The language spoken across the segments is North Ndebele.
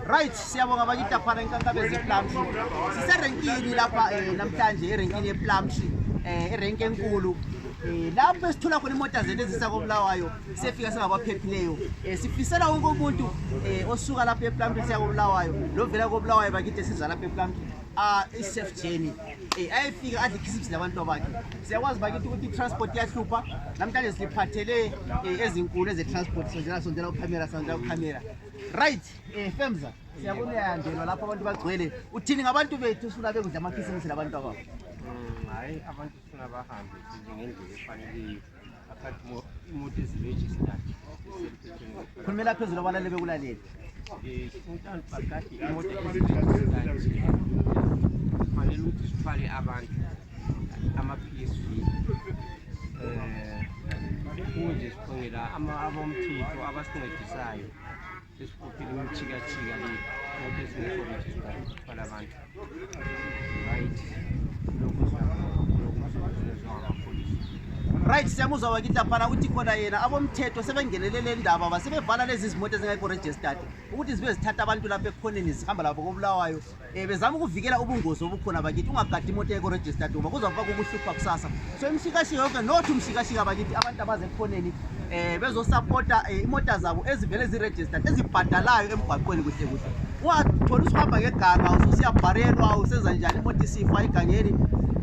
Right, siyabonga bakita phana inkankaba eziplumshi. Siserenkini lapha eh, namhlanje erenkini yeplumshi eh erenki enkulu. Eh, lapho esithola khona imota zethu ezisa kobulawayo siyefika singabaphephileyo eh, sifisela wonke umuntu eh, osuka lapho eplampi siya kobulawayo lovela kobulawayo bakithi esiza lapho eplampi ah, i-safe journey um ayefika adle ikhisipsi labantu abakhe siyakwazi bakithi ukuthi i-transport iyahlupha namhlanje siphathele um ezinkulu eze-transport sondela sondela ukhamera sondela ukhamera right um eh, femza siyabona uyayandelwa lapho abantu bagcwele uthini ngabantu bethu sifuna bekudla amakhisimusi labantu ababo mm, hayi abantu sifuna bahambe ngendlela efaneleyo imoto eziregistered khulumela phezulu abalale bekulalele um fanele ukuthi sithwale abantu amaphilisi eh, kunje siqongela abomthetho abasincedisayo sesifuphile imithikatshika le konke singekho registered thwala abantu right lokhu right siyamuzwa wakithi laphana uthi khona yena abomthetho sebengenele le ndaba basebevala lezi zimoto ezingekho registered ukuthi zibe zithatha abantu lapha ekhoneni zihamba labo kobulawayo um bezama ukuvikela ubungozi obukhona bakithi ungagadi imoto yeko registered uma kuzawuba kukuhlupha kusasa so imshikashika yonke not umshikashika bakithi abantu abazekhoneni um eh, bezosapota um eh, imota zabo ezivele ziregistered ezibhadalayo emgwaqweni kuhle kuhle ungatholi usuhamba ngeganga ususiyabharelwa usenza njani imoto isifa egangeni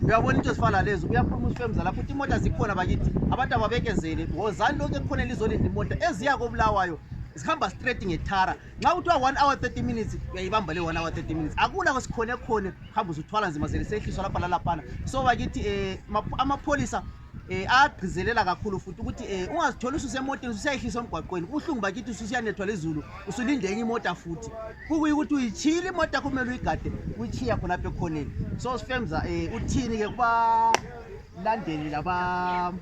uyabona into ezifana lezo uyakhuluma usifemza lapho ukuthi imoto zikhona bakithi abantu ababekezele wozani lonke kukhona elizolindla imoto eziya kobulawayo zihamba straight ngetara nxa kuthiwa one hour thirty minutes uyayibamba le one hour thirty minutes akula kwesikhone khone hamba uzuthwala nzima zelisehliswa lapha lalaphana so bakithi um amapholisa eh agqizelela kakhulu futhi ukuthi eh ungazithola ususemotini usuyayihlisa emgwaqweni uhlungu bakithi ususiyanethwa lezulu usulinde enye imota futhi kukuyi ukuthi uyitshiyile imota kumele uyigade uyichiya khonapha ekhoneni so sifemza eh uthini ke kuba landeli laba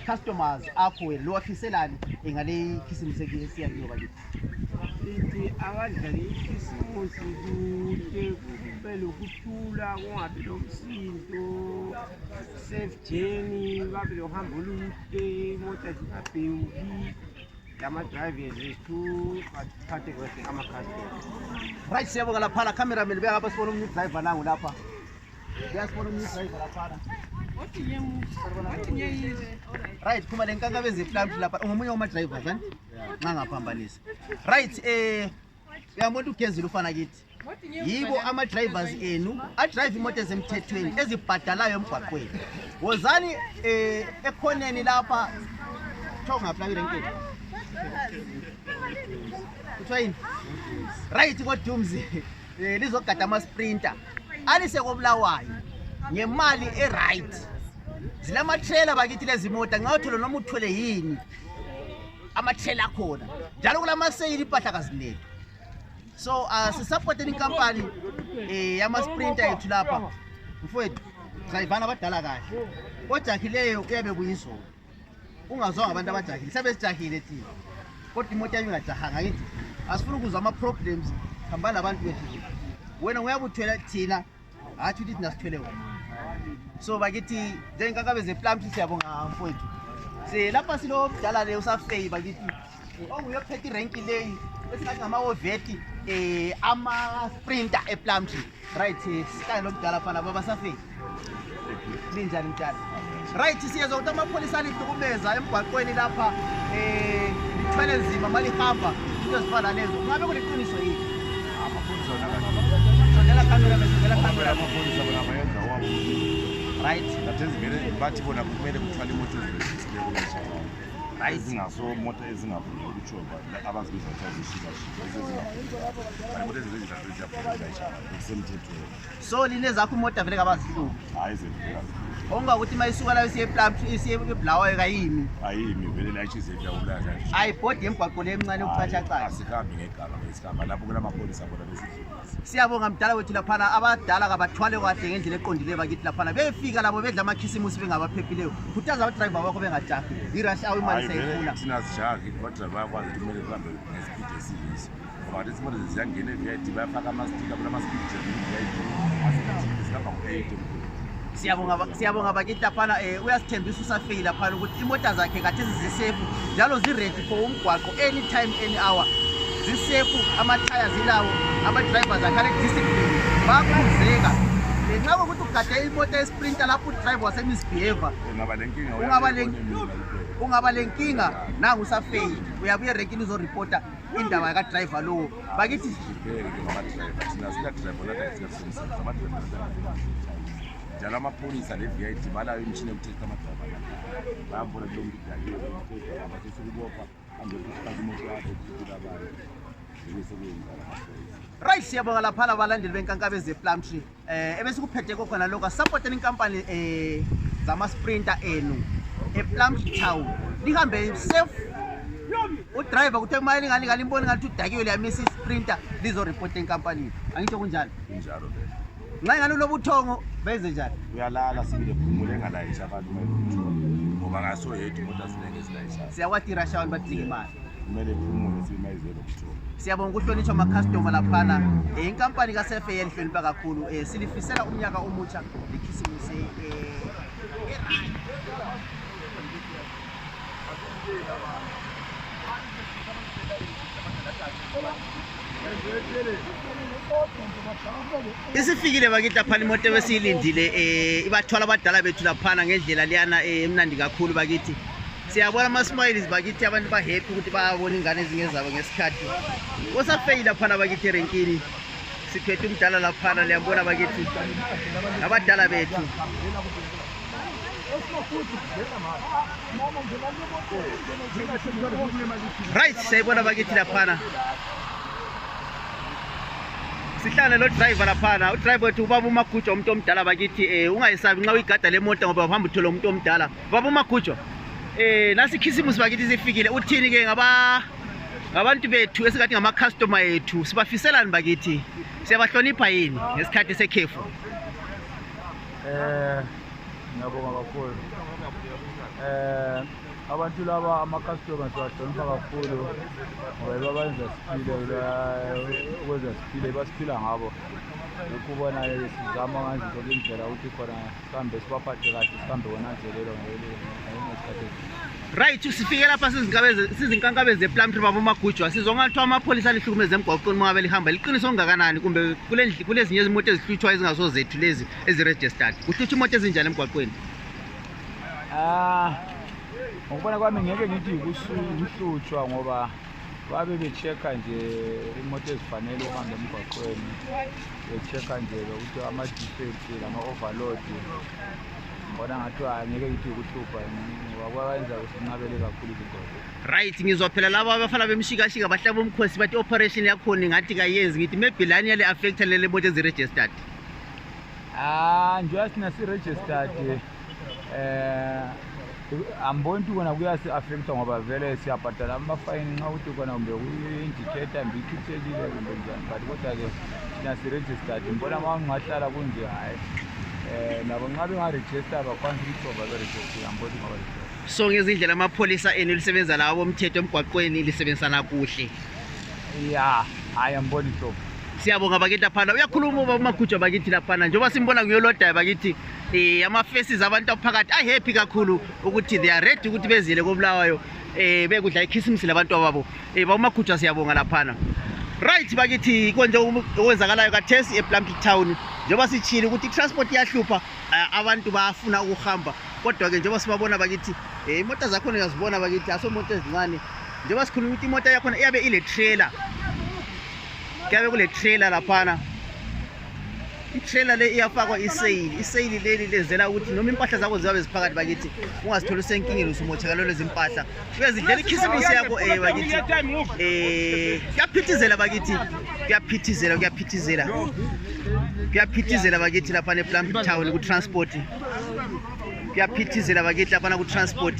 customers akho wena lowafiselani ngale khisimusi esiyakiyo bakithi ithi akadlale ikhisimusi kuhle kube lokuthula kungabi lomsindo safe journey babe lohambo olude imota zingabhewuki lama-drivers ethu athathe kuhle ama-customers right siyabonga laphana cameraman beyangapha sibona umnye udriver nangu lapha right phuma le nkanka bezeflamti lapha ungomunye wamadrivers ani nxa ngaphambanisa right um uyamona ukuthi ugezile ufana kithi yibo ama-drivers enu adrive imoto ezemthethweni ezibhadalayo emgwaqweni wozani um ekhoneni lapha kuthiwa ungaphi lapha irenkeni kuthiwa yini right kodumzi um eh, lizogada ama-sprinter alise kobulawayo ngemali e-right zilamatrela bakithi lezimota nxa uthole noma uthwele yini amatrela akhona njalo kulamaseyili impahla kazilethu so uh, ah, sisapoteni inkampani um eh, yamasprinta yethu lapha mfowethu sayivana abadala kahle ojakhileyo kuyabe kuyizona ungazwanga abantu abajahile sabe sijahile thina kodwa imoto yami ingajahanga ngithi asifuna ukuzwa ama-problems hambani labantu bethu wena uyabuthwela thina hathi ukuthi thina sithwele wena so bakithi njengenkankabezeplamthi siyabonga mfowethu se lapha silomdala le usafeyi bakithi onguye ophethe irenki leyi esingathi ngamawoveti um eh, amasprinter eplumtree right sikanye lomdala fana baba safeni linjani mdala right siyezwa ukuthi amapholisa alihlukumeza emgwaqweni lapha um lithwele nzima ma lihamba into ezifana lezo kungabe kuliqiniso yini sondela kamera sondela kamera right bathi bona kumele kuthwala imoto ezibesileyo ezinaso mota ezingavumi ukutshoba abazibiza kuthiwa zishikashika ezezingavumi mota ezinto ezihlale ziyafuna kusemthethweni so line zakho imota vele kabazihluphi hayi zivela onga ukuthi uma isuka layo isiyebulawayo kayimi ayimi vele layishizeyawulaza ayibhodi emgwaqo le emncane ukuchatshacayo asihambi ngegala esihamba lapho kulamapholisa bona besidlula siyabonga mdala wethu laphana abadala kabathwale kahle ngendlela eqondileyo bakithi laphana befika labo bedla amakhisimusi bengabaphephileyo khuthaza abadrayiva bakho bengajahi irash awu imali sayifuna thina sijahi abadrayiva bayakwazi ukuthi kumele zihambe ngesipidi esiyiso ngoba ngathi izimoto zeziyangena e-vip bayafaka amastika kula masipidi e-vip asipidi sihamba ngo-eight siyabonga siyabonga bakithi laphana um eh, uyasithembisa usafeyi laphana ukuthi imota zakhe kathesi zisefu njalo ziredi for umgwaqo any time any hour zisefu amathaya zilawo amadriver zakhe alediscipline bakhuzeka ngenxa kokuthi ugade imota esprinter lapho udriver wasemisbehava ungaba le nkinga nangu usafeyi uyabe uyerekini uzoripota indaba yakadriver lowo bakithi njalo amapholisa ne-vit balayo imishini yokuthetha amadrava bayambona kulo mntu udakiweabasesekubopha ambekusifaka imoto yakhe kufikile abantu right siyabonga laphana balandeli benkankabe ze-plum tree um ebesikuphethe kokhona lokho asisapoteni inkampani um eh, zamasprinter enu eplum tree town lihambe safe udriver kuthe kumali ingane ingane imboni ngathi udakiwe liyamisa isprinter lizoreporta enkampanini angitsho kunjalo kunjalo vele nxa ingane uloba uthongo benze njani uyalala sibile phumule engalayisha abantu ngoba ngaso yethu kodwa zinenge zilayisha siyawatirasha abantu badinga imali kumele phumule simayizelo kuthiwa siyabonga ukuhlonitshwa amakhastoma laphana um inkampani kasefe yelihlonipha kakhulu um silifisela umnyaka omutsha likhisimise um isifikile bakithi laphana imoto ebesiyilindile um eh, ibathwala abadala bethu laphana ngendlela liyana um eh, emnandi kakhulu bakithi siyabona ama-smiles bakithi abantu ba-happy ukuthi bayabona ingane ezinye zabo ngesikhathi osafeyi laphana bakithi erenkini siphethe umdala laphana liyambona bakithi abadala bethu right siyayibona bakithi laphana sihlale lo driver laphana u driver uthi ubaba umagujo umuntu omdala bakithi eh ungayisabi nxa uyigada le mota ngoba uhamba uthola umuntu omdala ubaba umagujo eh nasi khisimusi bakithi sifikile uthini ke ngaba ngabantu bethu esingathi ngama customer ethu sibafiselani bakithi siyabahlonipha yini ngesikhathi sekhefu eh ngiyabonga kakhulu eh abantu laba ama-customers bahlonipha kakhulu ngoba babenza siphile ukwenza siphile basiphila ngabo lokhu ubona sizama nganje zoke indlela ukuthi khona sihambe sibaphathe kahle sihambe konanzelelo ngesikhathi right sifike lapha sizinkankabe zeplumtre babomagujwa sizwa ngathi amapholisa alihlukumeza emgwaqweni mangabe lihamba liqiniso ongakanani kumbe kulezinye izimoto ezihlutshwa ezingaso zethu lezi eziregistered kuhlutshwa imoto ezinjani emgwaqweni ah, ngokubona kwami ngeke ngithi kuhlutshwa ngoba babe bechecka nje imoto ezifanele uhamba emgwaqweni bechecka nje lokuthi ama-defect lama-overload Mbona ngathiwa ngeke ngithi ukuhlupha wakwenza usinqabele kakhulu izinto. Right ngizwa phela laba abafana bemshikashika bahlaba umkhosi bathi operation yakhona ngathi kayenzi ngithi maybe lani yale affect lele moto ezi registered. Ah njengoba sina si registered eh amboni ukuthi kona kuyasi-affecta ngoba vele siyabhadala amafayini nxa ukuthi kona kumbe kuyindicator mbe ikhithelile kumbe njani but kodwa-ke thina siregistard mbona ma ungahlala kunje hhayi um nabo nxa bengarejista bakwanisa ukuthi bova berejista amboni ngoba so ngezindlela amapholisa enu lisebenza lawo bomthetho emgwaqweni lisebenzisana kuhle ya hhayi amboni hlobo siyabonga bakithi laphana uyakhuluma uba umaguja bakithi laphana njengoba simbona nguyolodayo bakithi um ama-faces abantu aphakathi ahappy kakhulu ukuthi they are ready ukuthi bezile kobulawayo um eh, bekudla ikhisimisi labantu ababo um eh, bawumakhutshwa siyabonga laphana right bakithi konje okwenzakalayo kathesi eplumpik town njengoba sitshile ukuthi itransport iyahlupha eh, abantu bafuna ukuhamba kodwa-ke njengoba sibabona bakithi um imoto zakhona uyazibona bakithi aso moto ezincane njengoba sikhuluma ukuthi imoto yakhona iyabe ile trailer kuyabe kule trailer laphana itrailer le iyafakwa iseyili iseyili leli lenzela ukuthi noma impahla zakho ziyabe ziphakathi bakithi ungazitholi usenkingeni usumothakalo lezimpahla uyazidlela ikhisimusi yakho um eh, bakithi um eh, kuyaphithizela bakithi kuyaphithizela kuyaphithizela kuyaphithizela bakithi laphana eplambi town kutransport kuyaphithizela bakithi laphana kutransport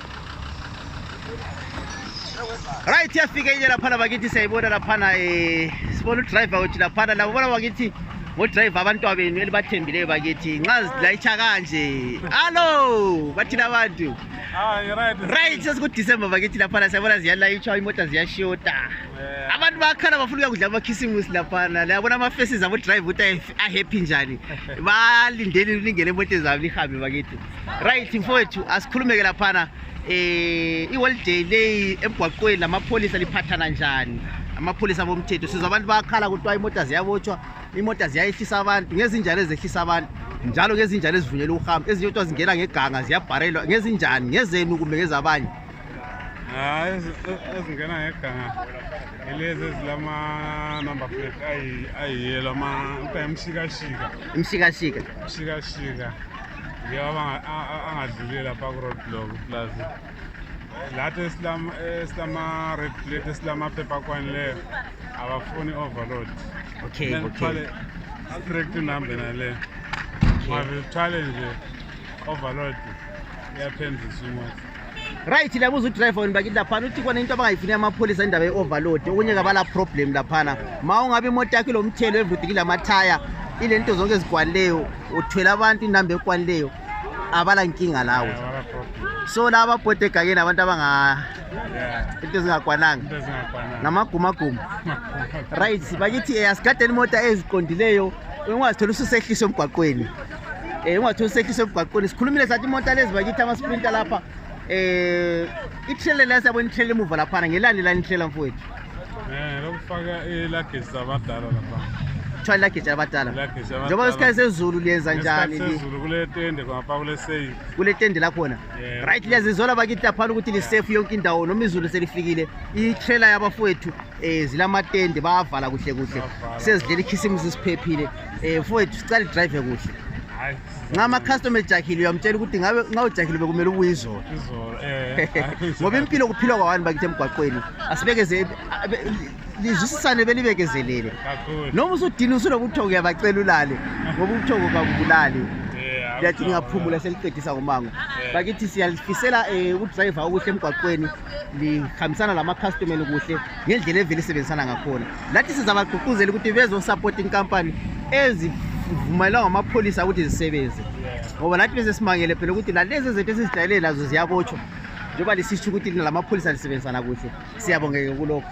right yafika inye laphana bakithi siyayibona laphana um eh, sibona udriver wethu laphana labo bona bakithi ngodriver abantwa benu elibathembileyo bakithi nxa zilayitsha kanje allo bathina abantu right sesikudisemba bakithi laphana siyabona ziyalayitshwa imota ziyashota abantu bakhala bafuna uyakudla amakhisimusi laphana layabona amafesis abodrive ukuthi ahappy njani balindeni lingene emote zabo lihambe bakithi right mfowethu asikhulumeke laphana eh iholiday leyi emgwaqweni lamapholisa liphathana njani amapholisa bomthetho sizwa abantu bayakhala kuthiwa imota ziyabotshwa imota ziyayehlisa abantu ngezinjalo ezehlisa abantu njalo ngezinjalo ezivunyelwa ukuhamba ezinye kuthiwa zingena ngeganga ziyabharelwa ngezinjani ngezenu kumbe ngezabanye hayi ezingena ngeganga ilezi ezilama-number plate ayiyelo kuthiwa imshikashika imshikashika imshikashika ngiyabanga angadlule lapha ku-road block plus lathi esilama-red plate esilamaphepha akwanileyo abafuni overload okay okay straight numbe nale mavithwale nje overload iyaphendisa imoto right labuza udriver wenu bakithi laphana uthi khona into abangayifuni amapholisa indaba ye-overload okunye kabala problem laphana ma ungabe imoto yakho ilomthelo evudikile amathaya ile nto zonke ezikwanileyo uthwele abantu inamba ekwanileyo abala nkinga lawo so laba ababhode egakeni abantu abanga into ezingakwananga ngamagumaguma right bakithi asigadeni imoto eziqondileyo ungazithola ususehliswa emgwaqweni um ungathusekisa emgwaqweni sikhulumile sathi imota lezi bakithi amasprinta lapha um eh, ithele la siyabona ithele emuva laphana ngelani lani ithlela mfowethu um eh, lokufaka ilagesi abadala lapha kuthiwa ilagesi abadala njengoba kwesikhathi sezulu liyenza njani kule tende lakhona right liyazizola bakithi laphana ukuthi lisefu yonke indawo noma izulu selifikile itrela yabafowethu um zilamatende bayavala kuhle kuhle sezidlela ikhisimusi siphephile Eh, mfowethu sicela idrive kuhle Hayi. nxa ama-customer ejahile uyamtshela ukuthi ngabe nxa ujahile bekumele ubuye izolo Izolo. Eh. hayi. ngoba impilo kuphilwa kwawani bakithi emgwaqweni asibekeze abe- lizwisisane belibekezelele Kakhulu. noma usudini usulokuthoko uyabacela ulale ngoba ubuthoko kabubulali Eh, liyathi akuthoko. ngingaphumula seliqedisa ngomango Eh. bakithi siyalifisela um udrayiva okuhle emgwaqweni lihambisana lamakhastomeni kuhle ngendlela evele isebenzisana ngakhona lathi sizabagqugquzela ukuthi bezosapota inkampani ezivumayelwa ngamapholisa ukuthi zisebenze ngoba lathi bese simangele phela ukuthi lalezi zethu esizijayelele lazo ziyabotshwa njengoba lisitsho ukuthi lina lamapholisa lisebenzisana kuhle siyabongeke kulokho